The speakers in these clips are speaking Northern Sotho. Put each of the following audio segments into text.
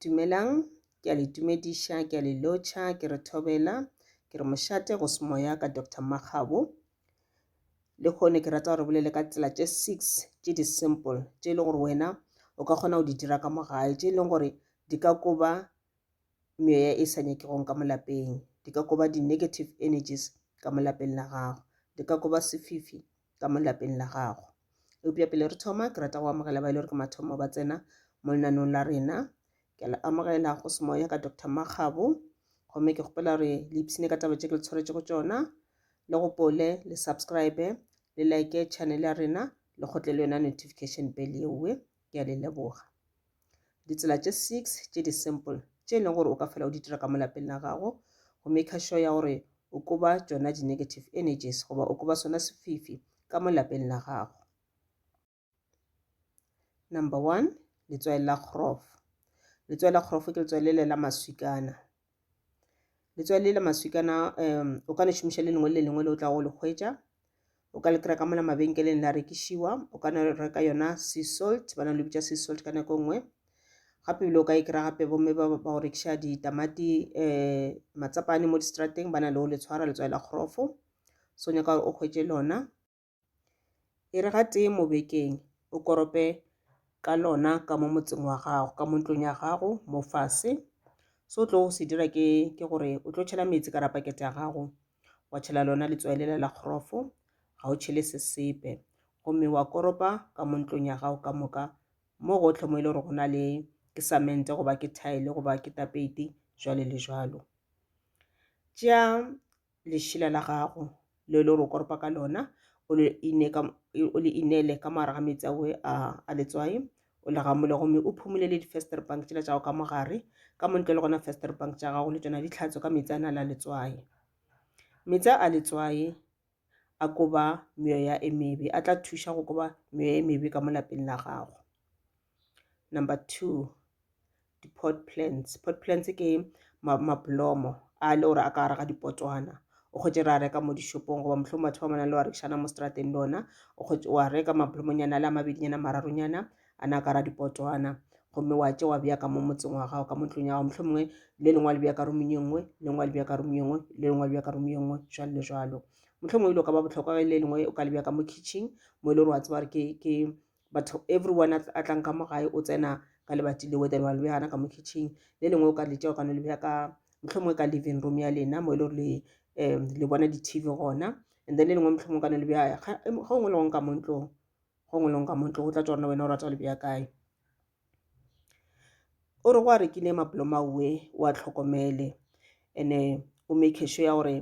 Dumelang, ke a le tumediša, ke a le lotšha, ke re thobela, ke re mošate go semoya ka Doctor Makgabo. Le kgone ke rata gore bolele ka tsela tše six tše di simple tše e leng gore wena o ka kgona go di dira ka mo gae tše e leng gore di ka koba meya e sa nyakegong ka mo lapeng, di ka koba di-negative energies ka mo lapeng la gago, di ka koba sefifi ka mo lapeng la gago. Eupša pele re thoma, ke rata go amogela ba e le gore ke mathomo ba tsena mo lenanong la rena. Ke a le amogela go semoya ka Dr. Makgabo. Gomme ke kgopela gore le ipshine ka taba tše ke le tshwaretše go tšona. Le gopole le subscribe le like channel ya rena le kgotle le yona notification bell yeowe. Ke a le leboga. Ditsela tše six tše di simple tše e leng gore o ka fela o di dira ka mo lapeng la gago go maker sure ya gore o koba tšona di-negative energies goba o koba sona sefifi ka mo lapeng la gago. Number one, letswai la kgorofo. Letswai la kgorofo ke letswai le le la maswikana. letswai le la maswikana um o ka le šomiša le lengwe le lengwe le o tla go le hwetša o ka le kry ka mola mabenkeleng la rekišiwa o ka reka yona sea salt ba na le bitša sea salt ka nako nngwe gape bile o ka e kry gape bomme ba go rekiša ditamati um matsapane mo distrateng ba na le o le tshwara letswai la kgrofo so nyaka gore o hwetše lona E re gatee mo bekeng o korope ka lona ka mo motseng wa gago ka mo ntlong ya gago mo fase so tlo go se dira ke ke gore o tlo tšhela metsi ka rapakete ya gago wa tšhela lona letswaelela la kgorofo ga o tšhele se sepe gomme wa koropa ka mo ntlong ya gago ka moka mo gotlhe mo e le gore go na le ke samente goba ke thaele goba ke tapeiti jwale le jwalo tšea lešila la gago le le ro koropa ka lona o le ine ka o le inele ka mogare ga metsi awe a a letswae o le gamole gomme o phumule le di-fester bank tsela tša go ka mogare ka montle le gona fester bank tša gago le tsona ditlhatso ka metsi a na la letswae metsi a letswae a koba meoya e mebe a tla thuša go koba meoya e mebe ka mo lapeng la gago Number two, di-pot plants. Pot plants ke mablomo a le gore a ka gare ga dipotwana o kgotse re a reka mo dishopong goba mohlomong batho ba manang le wa rekisana mo strateng le ona o kgotse wa reka mablomonyana le a mabedinyana mararonyana a na ka ra dipotwana gomme wa tse wa bea ka mo motseng wa gago ka mo ntlong ya gago mohlomongwe le lengwe le bea ka romong e nngwe le lengwe le bea ka romong e nngwe le lengwe le bea ka romong e nngwe jalo le jalo mohlomongwe e lo ka ba botlhokwa le lengwe o ka le bea ka mo kitchen mo e le gore wa tseba gore ke but everyone a tlang ka mo gae o tsena ka lebati le wether wa le behana ka mo kitchen le lengwe o ka le tšeo ka no le beha ka mohlomongwe ka living room ya lena mo e le gore le um le bona di-tv gona and then le lengwe mohlomongwe ka no le beha ga o ngwe le gong ka mo ntlong go ngwe le gong ka mo ntlong o tla tswa rona wena o rata go le beya kae O re go a rekile mapoloma uwe o a tlhokomele ene o make sure ya gore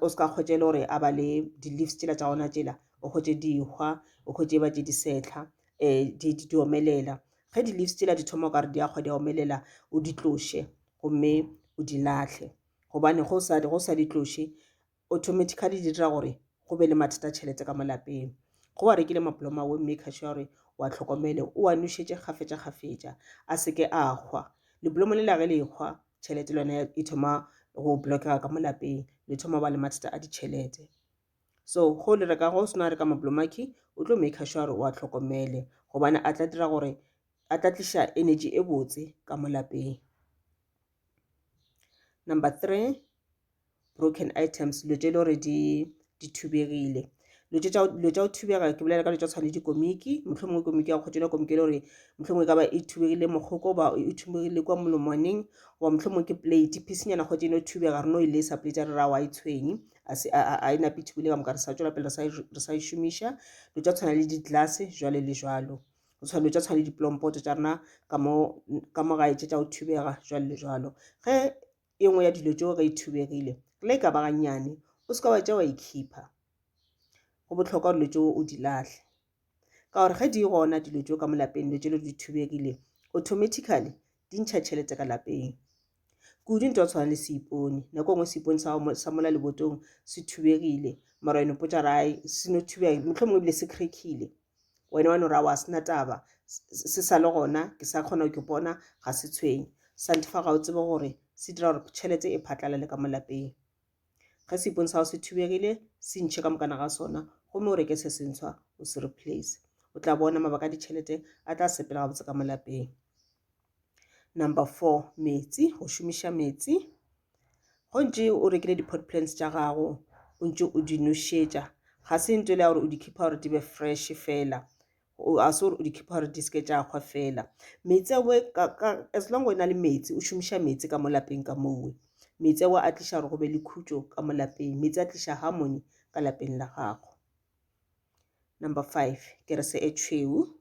o se ka kgwetša e le gore a ba le di-leaves tšela tša gona tšela o kgwetše dihwa o kgwetše e ba tše disetlha um di di omelela ge di-leaves tšela di thoma o ka re di a kgwa di a omelela o di tloše gomme o di lahlele gobane go sa di tloše automatically di dira gore go be le mathata a tšhelete ka mo lapeng go wa rekile maploma wo maker sure gore wa tlhokomele o a nošetše kgafetša kgafetša a se ke a hwa leblomo le la ge le hwa tšhelete le yone e thoma go blockega ka mo lapeng le thoma ba le mathata a ditšhelete so go le reka go sena reka maplomaki o tlo maker sure gore wa tlhokomele gobane a tla dira gore a tla tliša energy e botse ka mo lapeng number three broken items dilo tše e le gore di di thubegile dilo tša go thubega ke bolela ka dilo tša tshwane dikomiki motlho mongwe komiki ya kgotšona komiki e le gore motlho mongwe e ka ba e thubegile mokgoko ba e thubegile kwa molomwaneng goba motlho mongwe ke plate phisinyana kgotse e no thubega re no e lesa plate ya re ra wa e tshwenye a e nape thubile ka moka re sa tswela pele re sa e šomiša dilo tša tshwana le di-glass jwale le jwalo go tshwana dilo tša tshwana le diplompoto tša rena ka mo gae tše tša go thubega jwalo le jwalo ge e nngwe ya dilo tšeo ge e thubegile re le e ka ba gannyane o se ka wa tša wa ikhipha go bohlokwa dilo tšeo o di lahle ka gore ge di gona dilo tšeo ka mo lapeng dilo tšelo di thubegile automatically di ntšha tšhelete ka lapeng kudu nto tshwana le seipone nako nngwe seipone sa mola lebotong se thubegile mara yone potšarae se no thubega motlho mongwe ebile se krekile wena wa no ra wa sena taba se sa le gona ke sa kgona go ke bona ga se tshwenye santifa ga o tsebe gore se dira gore tšhelete e phatlalale ka molapeng ge seipone sa go se thubegile se ntšhe ka mokana ga sona gomme o reke se sentshwa o se replace o tla bona mabaka a ditšhelete a tla sepela gabotse ka molapeng Number four, metsi, go šomiša metsi. Go ntše o rekile di-pot plants tša gago, o ntše o di nošetša. Ga se ntho le ya gore o di khipha gore di be fresh fela. A se gore o di khipha gore di seke tša kgwa fela. Metsi ao as long o na le metsi, o šomiša metsi ka mo lapeng ka mowe. Metsi ao a tliša gore go be le khutšo ka mo lapeng. Metsi a tliša harmony ka lapeng la gago. Number five, kerese e tšhweu.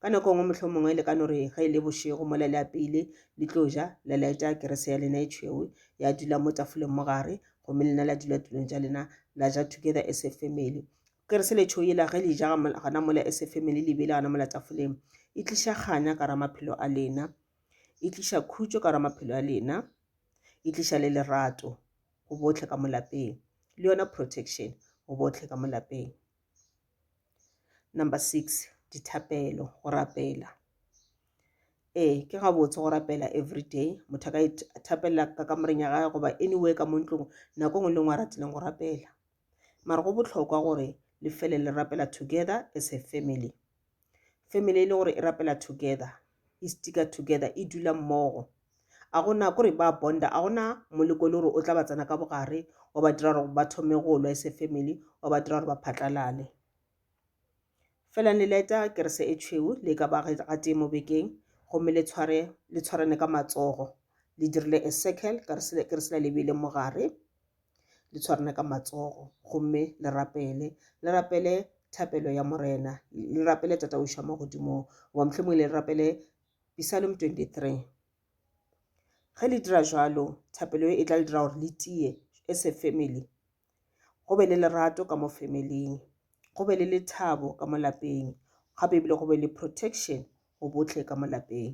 Ka nako nngwe mohlomongwe le ka no re ge e le bošego mola le apeile le tlo ja la laeta kerese ya lena e tšhweu ya dula mo tafoleng mo gare gomme lena la dula tulong tša lena la ja together as a family kerese le tšhweu yela ge le ja gana mola as a family le bile gana mola tafoleng e tliša kganya ka ra maphelo a lena e tliša khutšo ka ra maphelo a lena e tliša le lerato go botlhe ka molapeng le yona protection go botlhe ka molapeng Number six, dithapelo, go rapela. Ee, ke gabotse go rapela everyday. Motho a ka ithapelela ka kamoreng ya gage goba anywhere ka mo ntlong nako nngwe le nngwe a ratileng go rapela. Mara go botlhokwa gore le fele le rapela together as a family. family e le gore e rapela together e sticker together e dula mmogo a gona kore ba bonda a gona moleko le gore o tla ba tsena ka bogare wa ba dira gore ba thome go lwa ese family wa ba dira gore ba phatlalale fela le leta kerese e tšhweu le ka ba ga tee mo bekeng gomme le tshware le tshwarane ka matsogo le dirile a circle keresela le beile mogare le tshwarane ka matsogo gomme le rapele le rapele thapelo ya morena le rapele tata o šoma godimo goba mohlomongwe le rapele psalm 23 ge le dira jalo thapelo e tla le dira gore le tie as a family go be le lerato ka mo familing go be le lethabo ka mo lapeng gape ebile go be le protection go botlhe ka mo lapeng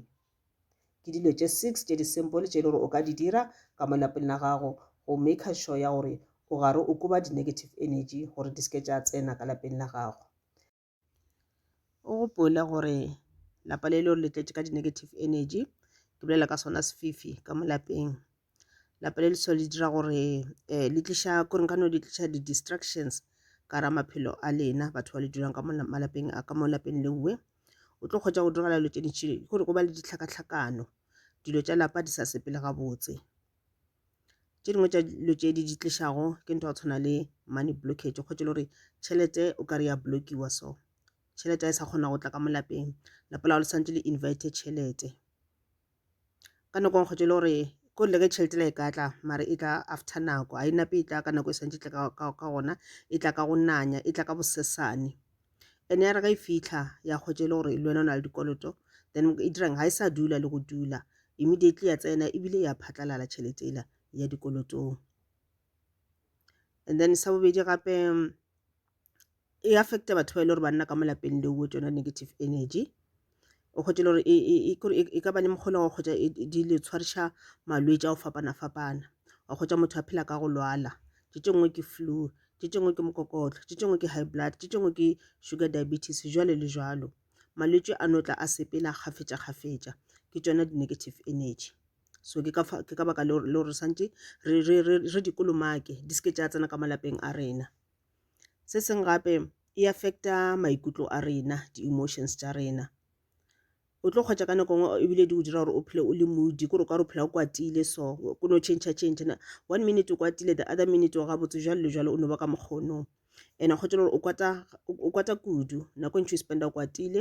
Ke dilo tše six tše di simple tše e le gore o ka di dira ka mo lapeng la gago go maker sure ya gore o gare o koba di-negative energy gore di seke tša tsena ka lapeng la gago. O gopole gore lapa le le gore le tletše ka di-negative energy ke bolela ka sona sefifi ka mo lapeng lapa le leswa le dira gore eh, le tliša koreng ka no le tliša di-distractions ka ra maphelo a lena batho ba le dulang ka malapeng a ka mo lapeng le nngwe o tlo kgotsa go diragala dilo tše dintšhi gore go ba le ditlhakatlhakano dilo tša lapa di sa sepele gabotse tše dingwe tša dilo tše di di tlišago ke ntho ya go tshwana le money blockage kgotse le gore tšhelete o ka re ya blockiwa so tšhelete a e sa kgona go tla ka mo lapeng lapa la go le santse le invite tšhelete Ka nako nkgotša e le gore ko le ge tšhelete la e ka tla mare e tla after nako a e nape e tla ka nako e santse tle ka gona e tla ka go nanya e tla ka bosesane ene ya re ga e fitlha ya kgotša e le gore le wena o na le dikoloto then e dirang ga e sa dula le go dula immediately ya tsena ebile ya phatlalala tšhelete ela ya dikolotong and then sa bobedi gape e affecta batho ba e le gore ba nna ka mo lapeng leo with yona negative energy o kgwetše le gore e, e, e, kore e- e ka ba le mokgolo wa go kgwetša e- e- di le tshwariša malwetši a go fapana-fapana wa kgwetša motho a phela ka go lwala tše tše nngwe ke flu tše tše nngwe ke mokokotlo tše tše nngwe ke high blood tše tše nngwe ke sugar diabetes jwale le jwalo malwetši a no tla a sepela kgafetša-kgafetša ke tšona di-negative energy so ke ka fa- ke ka baka leo leo re swantše re- re re- re dikolomake di se ke tša tsena ka malapeng a rena Se sengwe gape e affect-a maikutlo a rena, di-emotions tša rena. O tlo kgwetša ka nako nngwe ebile di go dira gore o phele o le moody, k'ore o ka re o phela o kwatile so, o no change-a change-a. One minute o kwatile, the other minute o gabotse, jwalo le jwalo, o no ba ka mokgwa ono. And ga go tšwela gore o kwata, o kwata kudu, nako e ntši o e spend-a o kwatile.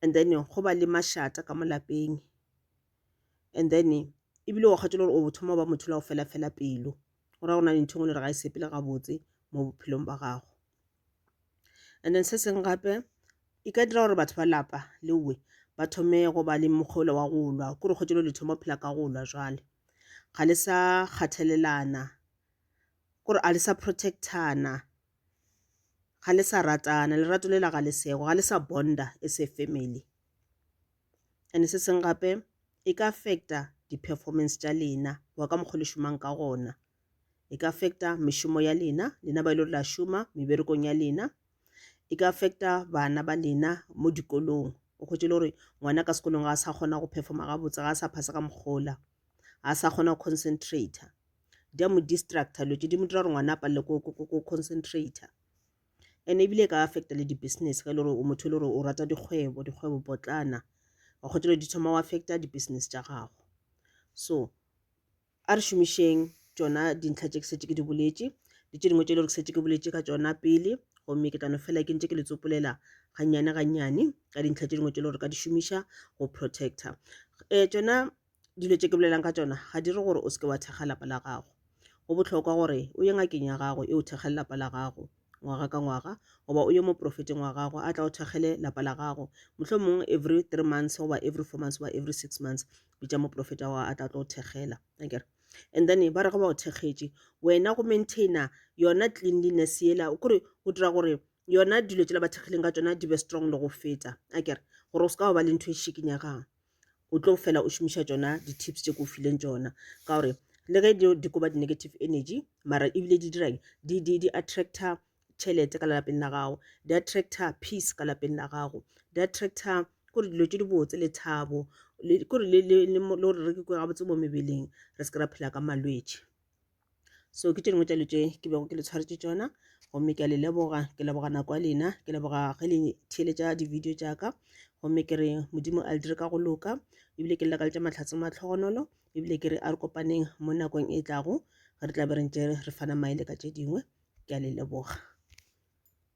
And then go ba le mašata ka mo lapeng, and then ebile wa kgwatšela gore o thoma go ba motho o la go fela-fela pelo. go ra go na le ntho e ngwe le re ga e sepele gabotse mo bophelong ba gago and then se sengwe gape e ka dira gore batho ba lapa le uwe ba thome go ba le mokgolo wa go lwa kore kgotšelo le thoma phela ka go lwa jwale ga le sa kgathelelana kore a le sa protectana ga le sa ratana lerato lela ga le sego ga le sa bonda e se family and se seng gape e ka affecta di performance tša lena wa ka mokgwa le šomang ka gona e ka affecta mešomo ya lena lena ba ile la šoma meberekong ya lena e ka affecta bana ba lena mo dikolong o kgotse le gore ngwana ka sekolong ga a sa kgona go performa gabotse ga a sa phasa ka mokgola ga a sa kgona go concentrata di a mo distracta dilo tse di mo dira gore ngwana a palele ko concentrata and ebile e ka affect le di business ge e le gore o motho e le gore o rata dikgwebo dikgwebo potlana wa kgotsa dilo di thoma wa affect di business tša gago so a re šomišeng tšona dintlha tše ke setse ke di boletše le tše dingwe tše e le gore ke setse ke boletše ka tšona pele gomme ke tlano fela ke ntse ke le tsopolela gannyane gannyane ka dintlha tše dingwe tše e le gore ka di šomiša go protector um tšona dilo tše ke bolelang ka tšona ga di re gore o seke wa thekga lapa la gago go bohlokwa gore o ye ngakeng ya gago e o thekgele lapa la gago ngwaga ka ngwaga goba o ye mo profeteng wa gago a tla o thekgele lapa la gago mohlho mong every three months goba every four months goba every six months bitša moprofeta wa a tla tlo o thekgela akere and then ba re ge ba o thekgetše wena go maintaina yona cleanliness yela kore go dira gore yona dilo tšela ba thekgileng ka tsona di be strong le go feta akere gore o se ka wa ba le ntho e šikinyegang o tlo fela o šomiša tšona di-tips tše ke o fileng tšona ka gore le ge di koba di-negative energy mara ebile di dirang di, di, di attracta tšhelete ka lapeng la gago di attracta peace ka lapeng la gago di attracta kore dilo tše di botse le thabo kore le gore re ke gabotse mo mebeleng re se ke ra phela ka malwetši so ke tše dingwe tša dilo tše ke bego ke le tshwaretše tšona gomme ke a le leboga ke leboga nako ya lena ke leboga ge le theeletša di-video tša ka gomme ke re modimo a le dire ka go loka ebile ke llekaletša matlhatse matlhogonolo ebile ke re a re kopaneng mo nakong e tlago re tla be re ntše re fana maele ka tše dingwe ke a le leboga